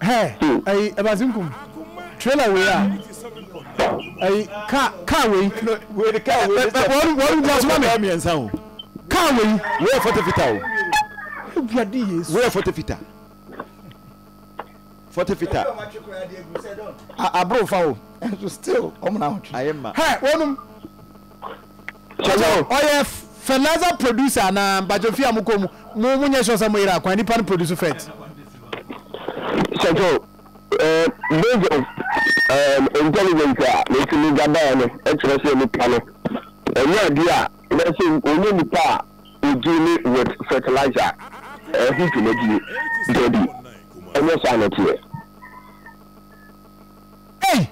hɛ ɛyi ɛbasi nkum trailer wei a ɛyi kaa kaa wei wei de kaa wei de sɛ wɔn wɔn gba so ma mi mmiɛnsa o kaa wei wei yɛ fɔte fita o ebi adi yesu wei yɛ fɔte fita fɔte fita aburo fa o ɛnso still wɔn na ahotwe ayɛ ma hɛ wɔnum Sɛ ɔyɛ fertilizer producer anaa mpacho fie a mo kɔ mu mo mo nyɛ sure sɛ mo yere akwan nipa no produce fert. Sɛkyɛw ɛɛ based on um, intelligence a metumi gabaɛ no ɛkyerɛ sɛ nipa no ɛnyɛ ade a ɛsɛ ɔnyɛ nipa a ɔdili with fertilizer ɛho dwumadie dabi ɛnyɛ saa na ɛteɛ. Ei!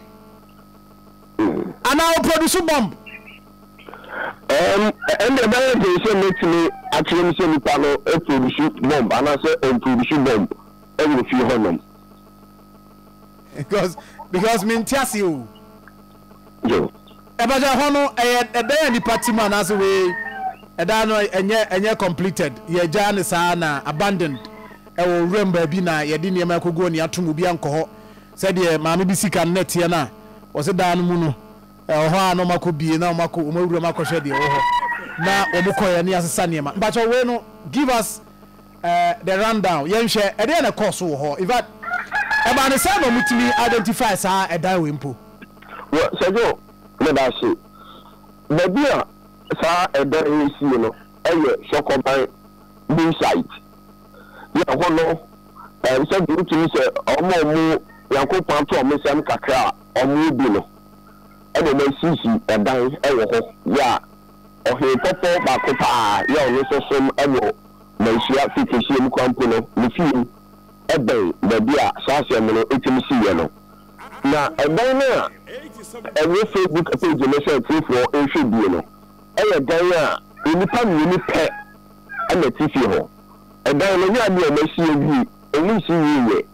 Anaa ɔproduce bomb? Ɛnde ɛbɛyɛ den sɛ mɛtumi akyerɛ mu sɛ nipa no produce bomb anaasɛ ɔmproduce bomb wɔ fie hɔnom. Because because mente ase o. Yo. Ɛbɛgya ɛhɔ no ɛyɛ ɛdan a nipa te mu anaasɛ wei ɛdan no ɛnyɛ ɛnyɛ completed yɛgya ne saa na abandoned ɛwɔ wuram baabi na yɛde nneɛma akogu hɔ nea ato mu obi ankɔ hɔ Sɛdeɛ maame bi sika no na ɛteɛ no a, wɔse daa no mu no, ɛwɔ hɔ a na wɔakɔ bie na wɔakɔ wɔn awuram akɔhwɛ deɛ ɛwɔ hɔ na wɔn kɔeɛ na yɛasesa nneɛma. Mpakyɛw wei no give us the run down yɛnhwɛ ɛdeɛn na ɛkɔɔ so wɔ hɔ? Infact ɛbaa no sɛn na wɔn tumi identify saa ɛdan wei mpo? Well Sergio medase, baabi a saa ɛdan yi sie no ɛyɛ Sɔkɔban Bull site. na ɛhɔ no ɛm sɛ deɛ wotumi sɛ wɔn a wɔn Nyankopɔn ato wɔn nsɛm kakra a wɔn wɔ bi no ɛna wɔn asisi ɛdan ɛwɔ hɔ yɛ a ɔhene pɔpɔ baako paa yɛ a ɔno nso som ɛwɔ manhyia fi kɛseɛ mu kwan mpo no ne fie mu ɛbɛn baabi a saa asɛm no ɛtumi si yɛ no na ɛdan no a ɛwɔ Facebook page no sɛ atiefoɔ nhwɛ bie no ɛyɛ dan a nnipa mmienu pɛ a na ɛte fie hɔ. Ɛdan no yɛ ade a wɔasi awie, emu nsi wiei ɛ.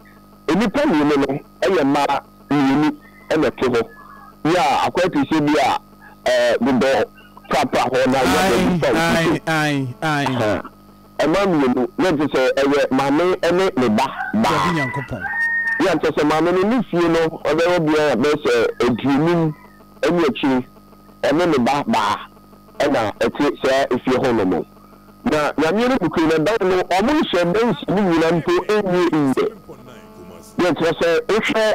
Nnipa mmienu no yɛ mmaa mmienu na ɛte hɔ. Yɛ a akwae te sɛ bi a dodɔ prapra hɔ na yɛ bɔ bi fa obi so. Ha, mmaa mmienu, na ɛte sɛ ɛyɛ maame ne ne ba baa. Yɛ a kyerɛ sɛ maame no ne fie no ɔbɛyɛ bɛyɛ sɛ aduonum ne akyire, ɔne ne ba baa na ɛte saa efie hɔ nom. Na Nyame no bukuu no dan no wɔn nhyɛ dansi no nyina mpo nnyɛ yiɛ. Deɛ nkyerɛ sɛ wohwɛ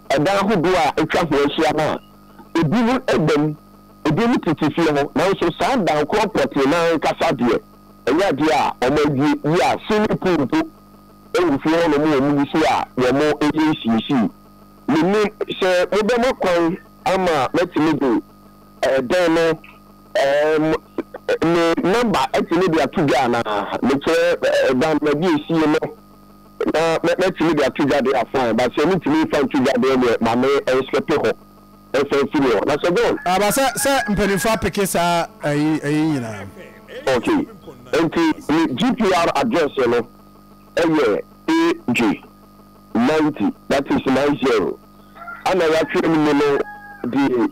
ɛdan ahodoɔ a atwa ho ahyia no a, ebi mu da mu, ebi mu tete fie hɔ, nanso saa dan korɔ pɔtee no ankasa deɛ ɛnyɛ adeɛ a wɔn awie yie a swimming pool mpo wɔ fie hɔ nom wɔn gu so a wɔn yɛ nsiesie. Mennim sɛ mobɛma kwan ama matumi de. Ɛdɛn no, ɛɛm, me nɔmba atumi de ato dwa anaa? Mekyerɛ dan na bi esie no na mɛ mɛtumi de ato dwa deɛ a fine, but sɛ mentumi nfa nto dwa deɛ neɛ ma me ɛnslɛpe hɔ ɛnsan mfiri hɔ. Na Sir John. Aba sɛ sɛ mpaninfoɔ apeke saa ɛyi ɛyi nyinaa. Ok, nti me GPR address no ɛyɛ AJ ninety, that is nine zero, ɛna yatwerɛ no mu no deɛ.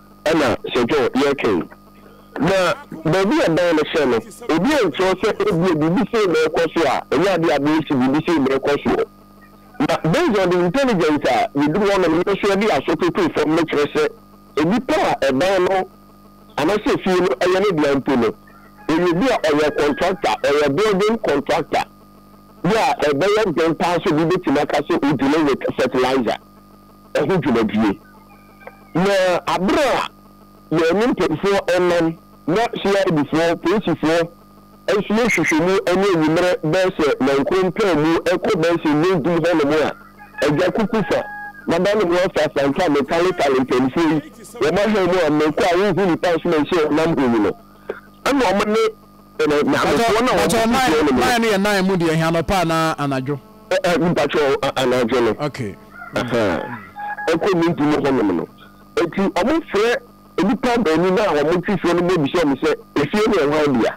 Ɛna Sir John yɛ ka yi. Na baabi a dan no sɛ no, obi ankyerɛw sɛ ebia biribi sei na ɛrekɔ so a, ɛnyɛ ade a abɛyɛ sɛ biribi sei na ɛrekɔ soɔ. Na based on the intelligence a yɛduru hɔnom no nso yɛde aso toto fam no kyerɛ sɛ nnipa a ɛdan no anaasɛ efie no yɛ ne dea mpo no, ɛyɛ obi a ɔyɛ contractor, ɔyɛ building contractor. Yɛ a ɛbɛyɛ den paa sɛ obi bɛtumi aka sɛ ɔgyina with fertilizer. ho dwumadie. Na aberɛ a yɛne mpanimfoɔ nam na CIDfoɔ, polisifoɔ, nso yɛ nhwehwɛmu ne anwummerɛ bɛyɛ sɛ nankoro mpaa mu kɔ bɛyɛ sɛ nnwa dum hɔnom a, agya kuku fa m'adane ho afa afa nka metale tale mpanimfoɔ yi, wɔn ahan mu a mekɔ a wonhu nipa nso manhyia wɔn nam ho yi no. Ɛna ɔmo ne ɛnɛ nyamefoɔ na wɔn mo ti no mu. Nine no yɛ nine mu deɛ ɛhɛn anɔpa anaa anadwo. Ɛ ɛ mpatsɔ anadwo no. Okay. Ɛkɔ ne nti no hɔ nom no eti ɔmo frɛ nipa baanu na ɔmo ti soɔ no mo bisa ɔmo sɛ efie no yɛ hwan dea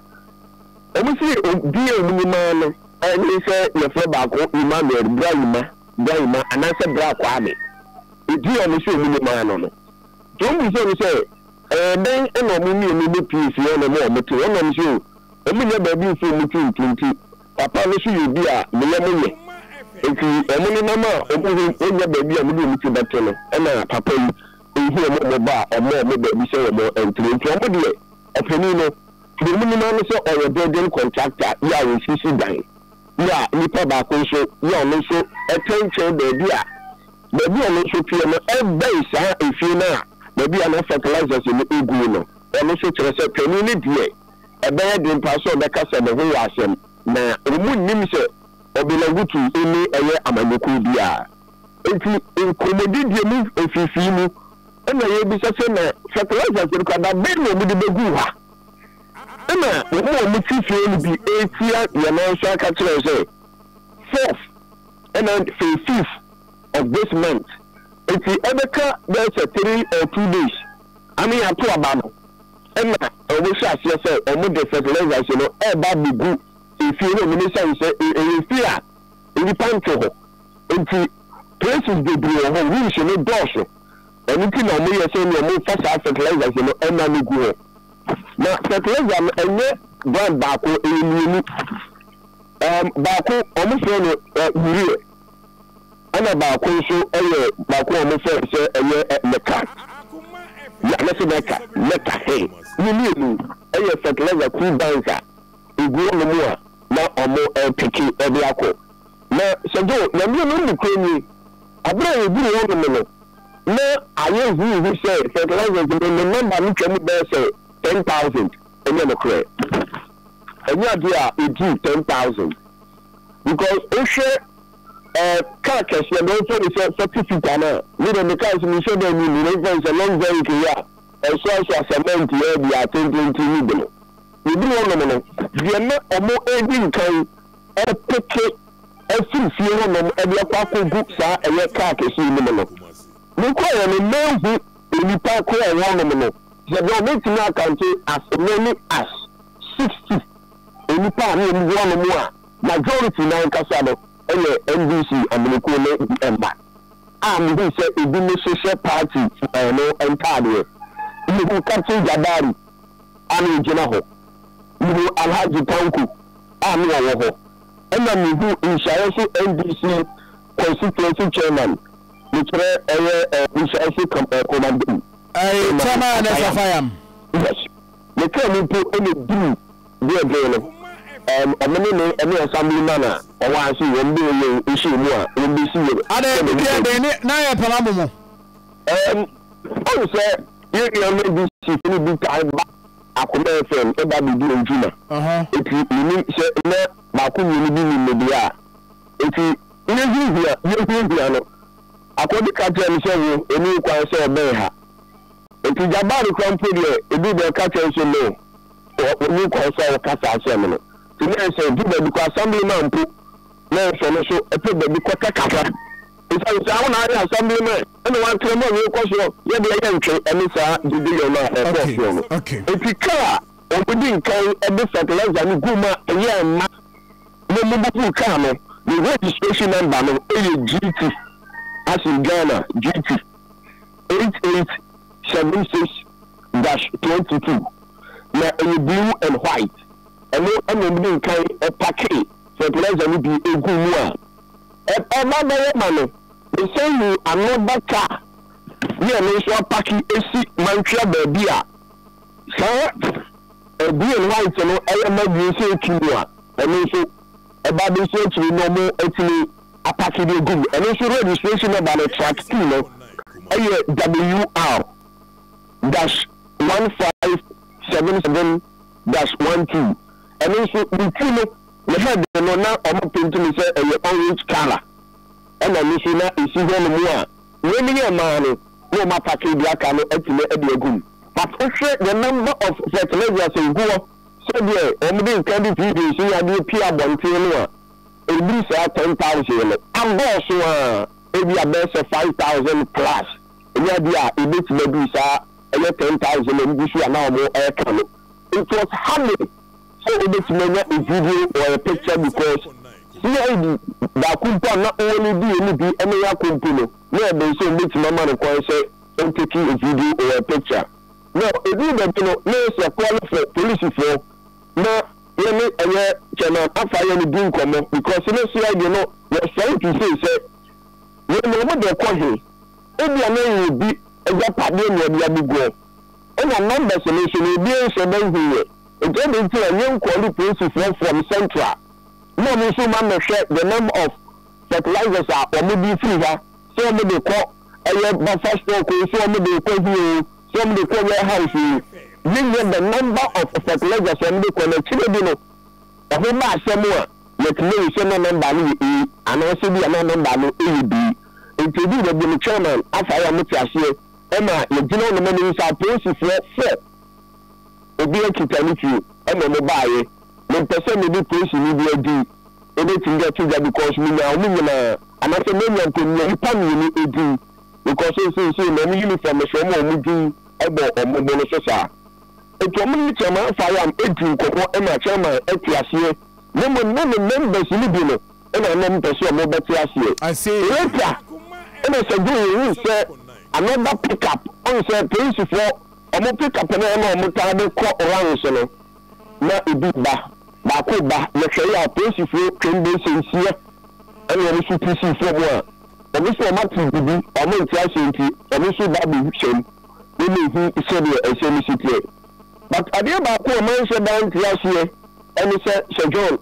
ɔmo si obi a ɔmo ni maa no ɛne sɛ yɛfrɛ baako Emmanuel Brayima Brayima anaasɛ Bra Kwame eti ɔmo sɛ ɔmo ni maa no no nti ɔmo bisa ɔmo sɛ. Ɛyɛ dɛn na wɔn mmienu no pii si hɔnom a wɔte hɔnom se o, wɔnnya baabi mfa wɔn ti nto nti? Papa no so yɛ obi a ne yam yɛ. Enti wɔn nenam a wɔn ho nnya baabi a wɔde wɔn ti bɛto no na papa yi nhu wɔn mmɔbɔ a ɔmma wɔn baabi sɛ wɔntra. Enti wɔn deɛ, ɔpanin no, deɛ wɔnim ara ne sɛ ɔyɛ building contractor yɛ a ɔsisi dan yɛ a nnipa baako nso yɛ a ɔno nso tɛntɛn baabi a Baabi a ɔno nso teɛ no bɛn saa efie no a baabi a na fertilizers no gu no. Ɛno nso kyerɛ sɛ panin no deɛ, ɛbɛyɛ den paa sɛ ɔbɛkasa ne ho wɔ asɛm. Na wɔnnim sɛ Obilagutu nni ɛyɛ amanyɔkuo biara. Enti nkɔmmɔdidie mu mfifii mu na yɛrebisa sɛ na fertilizers no koraa, da bɛn na wɔde bɛguu hɔ a? Ɛna wɔn a wɔte fie no bi retia deɛ nanso aka kyerɛ wo sɛ, Fourth. ɛna fee fifth of this month nti ɛbɛka bɛyɛ sɛ three or two days ama yɛato aba no ɛna ɔmo hyɛ aseɛ sɛ ɔmo de fertilizers no ɛɛba abegu efie hɔ nom esiane sɛ ɛyɛ fie a nnipa nte hɔ nti places bebree wɔ hɔ rooms no dɔɔso ɛno nti na ɔmo yɛ sɛ nea ɔmo fa saa fertilizers no ɛna no gu hɔ na fertilizer no ɛnyɛ brand baako ɛyɛ mmienu. Um, baako, wɔfrɛ no uh, Uriel, ɛna baako nso yɛ baako a wɔfrɛ no sɛ ɛyɛ uh, Meka. Ya, mɛsɛ Meka, Meka he. Ne mmienu yɛ fertilizer kuru bank a egu wɔnom a na wɔpeke uh, de akɔ. Na Sɛgyo, Nyame no nokorɛ nie, abere a yɛduru hɔnom no, na ayɛ huuhu sɛ fertilizers no, ne number no twa mu bɛyɛ sɛ ten thousand. Ɛnyɛ nokorɛ. Ɛnyɛ adeɛ a ɛdi ten thousand because wohwɛ eh, car kɛseɛ deɛ wɔmfa no sɛ forty seater no a, me deɛ me car nso menhyɛ da nnim no, wɔmfa no sɛ luxury kei a ɛsoasoa cement yɛ deɛ atententen mu de no, ɛduru hɔnom no, deɛ na wɔredi nkan repeke afiri fie hɔnom de akɔ akɔgu saa ɛyɛ car kɛseɛ no mu no, mekɔeɛ no manhu. nnipa korɔn hɔnom no, yɛde wɔn bɛtumi akante as many as sixty nnipa a na wɔn gu hɔnom a majority no ankasa no yɛ NDC amanyɔkuo no mma a mehuu sɛ ebinom nso hyɛ party no ntaadeɛ. Mehuu Captain Jabari a na ɔgyina hɔ, mehuu Alhaji Tanko a na ɔwɔ hɔ, ɛna mehuu Nhyira nso NDC constituency chairman, Mekyerɛ ɛyɛ eh, we shall say come eh, koma dum. Ay, Chama ne Safayam. Yes. Ne kaa mu mpo na eduru deɛ den no. Um, ɔmo ne ne ɛne assembly man a ɔwɔ ase wɔn bɛ yɛ nhyɛ mu a wɔn bɛ si yɛ. Adɛ ne deɛ den ne na yɛ pɛma mo mo. Um, ɔn sɛ yɛ yɛ ɔmo bi si fini bi taa ba akoma fm ɛba bi di ntuma. Uh huh. Eti yɛ ni sɛ na baako mmienu bi ni ne deɛ a. Enti me ho hia, yɛn ho hia no. Akodi ka kyerɛɛ me sɛ, Wo, ɛnni ho kwan sɛ ɔbɛn ha. Enti Jabari koraa mpo deɛ, ɛduu baabi ɔka kyerɛɛ me sɛ, No, wonni ho kwan sɛ woka saa asɛm no. Enti na ɛyɛ sɛ ɛduru baabi koraa Assemblyman mpo na ɔsɔ no so pɛ baabi kɔtɛ kakra. Esiane saa, wo na ayɛ Assemblyman, ɛna woatrɛ mu a yɛrekɔ so yɛ deɛ yɛntwe ɛne saa gyedeyɛ no a ɛkɔɔ so no. Enti kaa a wɔde nkan de fertilizer no guu mu a ɛyɛɛ mma Me mobubuu car no ne registration number no yɛ GT as in Ghana GT eight eight seven six dash twenty two na ɛyɛ blue and white ɛno ɛna ɔmo de nkan ɛpakee fertilizer no bi eguu mu a ɛba bɛyɛ ma no mesan hu another car ne ɛno nso apake esi mantwea baabi a Saa green white no yɛ ma green sɛ ɛtu mu a ɛno nso ɛba de nso akyiri no ɔmo atumi apake de agu mu ɛno nso registration number no track T no ɛyɛ WR dash one five seven seven dash one two ɛno nso ne ti no ne head no na ɔmo paint no sɛ ɛyɛ orange colour. Ɛna no so na esi hɔ no mu a wei ne yɛn maa no na wɔn apake deɛ aka no atumi de agu mu. But wohwɛ the number of fertilizers a egu hɔ sɛdeɛ wɔn de nkan de previous ne adeɛ pie abɔnten no a ɛduru saa ten thousand no adɔɔso ara ebi a bɛyɛ sɛ five thousand plus ne adeɛ a ebetumi aduru saa ɛyɛ ten thousand a egu so a na wɔn ɛka no it was hardly sɛ wobɛtumi anya gyidie wɔ a picture because CID baako mpo a na wɔn di wɔn di ne yako mpo no na ɛbɛn sɛ wɔbɛtumi ama no kwan sɛ wɔn take a video or a picture na ɛduru baabi no na yɛ sɛ kɔɔle fɔ polisifoɔ na yɛne ɛyɛ chairman afa yɛ no di nkɔmmɔ because ne CID no were trying to say sɛ wei na wɔn de kɔ he ebia na yɛ obi agyapadeɛ na wɔde abɛguɔ. Nna numbers no so na obiara nnhyɛ da nnhu yɛ, ntsi adɛn ntsi na yɛnnkɔɔle polisifoɔ from central na ɔmo nso mma mmɛhwɛ the number of fertilizers a ɔmo de firi ha, sɛ ɔmo de kɔ ɛyɛ buffer stock oo, sɛ ɔmo de kɔ he oo, sɛ ɔmo de kɔ warehouse oo, yɛnnya the number of fertilizers a ɔmo de kɔ, na akyire de no ɛho ba asɛm a, yɛtumi ahu sɛ na number no yɛ A anaasɛ bi a na number no yɛ B. Nti eduu baabi no, Chairman, afa yɛ a mote aseɛ. Ɛna yɛgyina hɔ mema mehu sɛ apolisifoɔ frɛ obi akita ne fie ɛna ɔmo baeɛ. Mempɛ sɛ mede polisini bi adin ɛbɛtumi de ato dwa because menyaa ɔmo nyinaa anasɛ manya mpo menyaa nnipa mmienu ɛdin because seisei na ɔmo uniform no so ɔmo a ɔmo din ɛbɔ ɔmo bo no so saa. Nti ɔmo ne Chairman Afayam ɛdi nkɔmmɔ ɛna Chairman ɛte aseɛ na mmom na ne members no bi no na ɔno mpɛ sɛ ɔmo bɛte aseɛ. Later na Saguy huu sɛ another pick up, ɔn sɛ polisifoɔ ɔmo pick up no na ɔmo taa de kɔ rounds no, na ebi ba, baako ba, yɛhwɛeɛ a polisifoɔ twam bɛyɛ sɛ nsia ɛna ɔmo nso tu sii fɔm a ɔmo nso ɔmo ate biribi a ɔmo nte aseɛ nti ɔmo nso ba abɛ hyɛm na ɔmo hu sɛdeɛ ɛsɛ no si teɛ. But adeɛ baako a manhyɛ da nte aseɛ ɛne sɛ Sir John,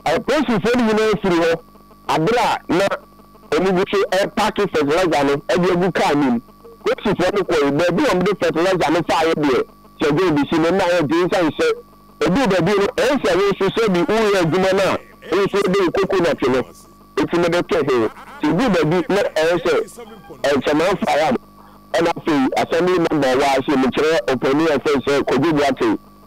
Apolisifo no nyinaa firi hɔ bere a na wɔgu so repaake fɛtilɛza no de agu kar no mu. Polisifo no kɔe baabi a wɔde fɛtilɛza no faeɛ deɛ, Sɛ John de si no na ayɛ den sane sɛ ɛduu baabi no, ɛyɛ sɛ wo nso sɛ bi woreyɛ adwuma no a wo nso wode wo kokonɔte no ti no bɛto ho. Sɛ ɛduu baabi na ɛyɛ sɛ mframa afa wo a, ɛna afei Assembly Member a ɔwɔ ha se mekyerɛ ɔpanin a wɔfrɛ no sɛ Kwadwo Boateng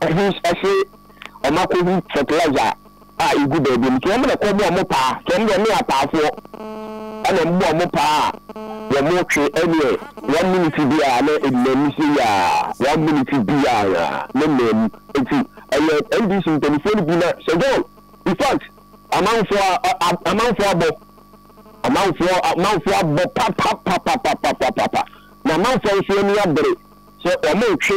Ɛhus ɛse ɔma kɔ hu fertilizer a egu baabi no nti ɔmo na ɛkɔ bɔ ɔmo paa nti ɔmo deɛ ɔmo yɛ apaafoɔ ɛna ɔmo bɔ ɔmo paa a wɔmo twe ɛneɛ one minute biaa na ɛnnamu seiaa one minute biaa na ɛnnamu nti ɛyɛ NDC mpaninfoɔ no bi na Sir John in fact amanfoɔ amanfoɔ abɔ amanfoɔ amanfoɔ abɔ papapapapapapapa na amanfoɔ nso ani abere sɛ ɔmo twe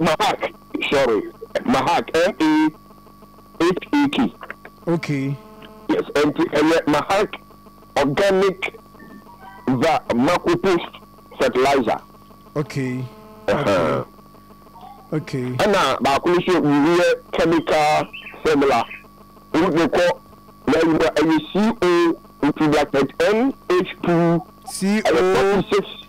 Mahak, sorry, Mahak, M-A-H-A-K. Okay. Yes, nti ɛyɛ Mahak organic va makopo fertilizer. Okay. Okay. Okay. Ɛna baako no so urea chemical formula. Wo de kɔ na yi mu a ɛyɛ CO nti bracket NH2 ɛyɛ 46.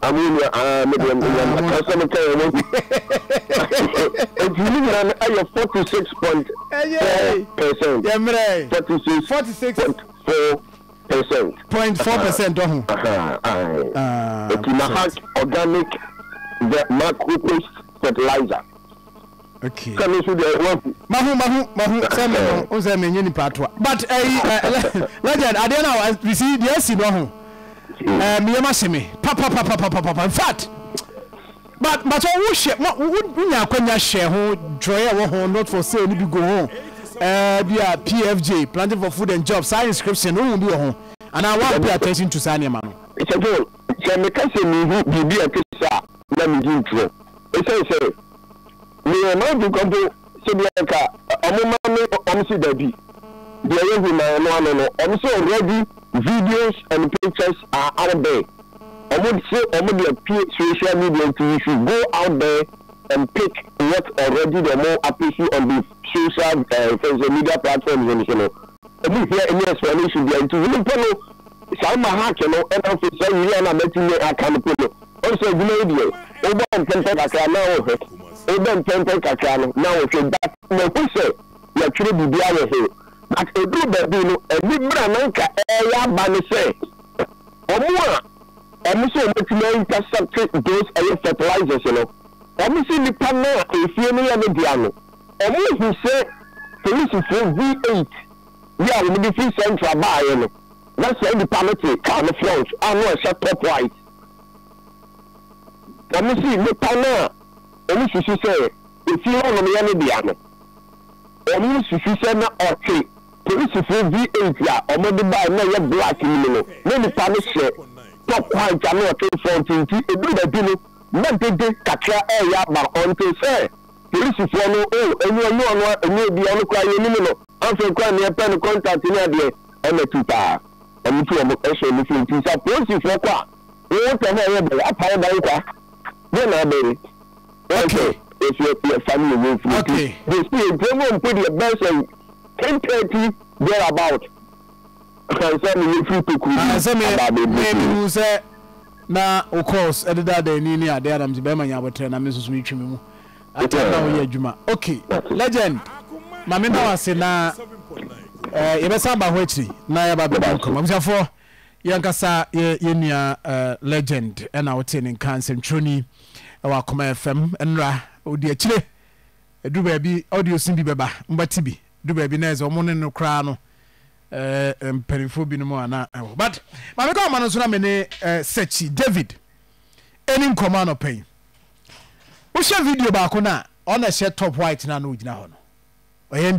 Amu nua aa me deɛ menya na kan sɛ meka yɛ wɔn nti ne nyina no ɛyɛ 46.4 percent yɛ mmerɛ 46.4 percent point four percent dɔ ho nti mahak organic the macro paste fertilizer okay. Sɛ me nso deɛ wahu. Mahu mahu mahu sɛ me no o sɛ me nye nipa toa but ɛyi eh, eh, eh, legend adeɛ na wa bisi deɛ esi no ho ɛɛ mi yɛ ma se me papapapapapa in fact but but sɛ wo hyɛ ma wo wo nya akwanya hyɛ ho dwɔyɛ wɔ ho not for sale ni bi go ho ɛɛ bi a pfj planting for food and jobs saa inscription no ohun bi wɔ ho anaa wa pay attention to saa nneɛma no. sɛ fo sɛ meka sɛ mehu biribi a ɛte saa na megye ntorɔ ɛsiane sɛ Meyɛ m'adwen kwa mpo sɛ bi a nka ɔmo ma me ɔmo se dabi deɛ yɛ hu na ɛno ano no ɔmo se already videos and pictures are out there ɔmo se ɔmo de apue social media nti you should go out there and pick what already deɛ ɔmo apesi on the social eh, social media platforms no so no Ɔmo nhia any explanation biaa nti hom mpo no saa mma hacking no na afei saa wia no a matumi aka no mpo no ɔn sɛ edwuma yi deɛ wobɔ mpɛmpɛn kakra na wohwɛ wobɔ mpɛmpɛn kakra no na wohwɛ but mahu sɛ yɛatwerɛ biribiaa wɔ ho but ɛduru baabi no anibra na nka ɛɛyɛ aba ne sɛ ɔmo a ɔmo sɛ ɔmo atumi a intercept those ɛyɛ fertilizers no ɔmo se nipa no a nsuo no yɛ ne dea no Wɔhu sɛ polisifo V8 bi a wɔde fi Central baeɛ no, na saa nipa no te kaa no front a na ɔhyɛ top white. Wɔsi nnipa no a wɔsusu sɛ efie hɔnom yɛ ne dea no, wɔsusu sɛ na ɔte polisifo V8 a wɔde baeɛ na ɛyɛ black no mu no. Na nipa no hyɛ top white a na ɔte front nti, ɛduru baabi no, na dede kakra reyɛ aba until sɛ Polisifoɔ no oh ɛnyɛ ɛnyɛ ɔno a ɛnyɛ obi a ɔno koraa yɛnim no afei koraa neɛ ɛpɛ no contact ne adeɛ ɛna tu paa ɔmo tu ɔmo ɛhyɛ ɔmo fie nti sɛ apolisifoɔ kɔ a woo tɛm a ɛyɛ dɛn apae dan kwa deɛ na abɛ yi okay yɛsi yɛsi yɛfa ne yɛ wei firi nti okay yɛsi yɛ gyina mu mpo deɛ bɛn sɛ ten thirty there about kansa ne yɛ firi tokuro mu aba abɛ bi firi. Na wo calls ɛde daadaa ani ne adeɛ a na mete bɛrima nya aboterɛ na me nso so metwi me mu atɛm na woyɛ adwuma ok legend ma me da wase na eh, yɛbɛsa aba ho akyiri na yɛba bɛdi nkɔm abusuafoɔ yɛnkasa yɛ yɛnua eh, legend ɛna wote ne nka nsɛmtwerɛni ɛwɔ akoma fam nnora ɔdi akyire ɛduru baabi audio sin bi bɛba mbɛte bi ɛduru baabi na ɛsɛ ɔmo ne no koraa no Eh, mpanimfoɔ binom a na ɛwɔ but maame kɔ ama no nso na me ne eh, Sekyi David ɛni nkɔmɔ anɔpa yi wohyɛ video baako no a ɔna ɛhyɛ top white no a na ɔgyina hɔ no ɔyɛ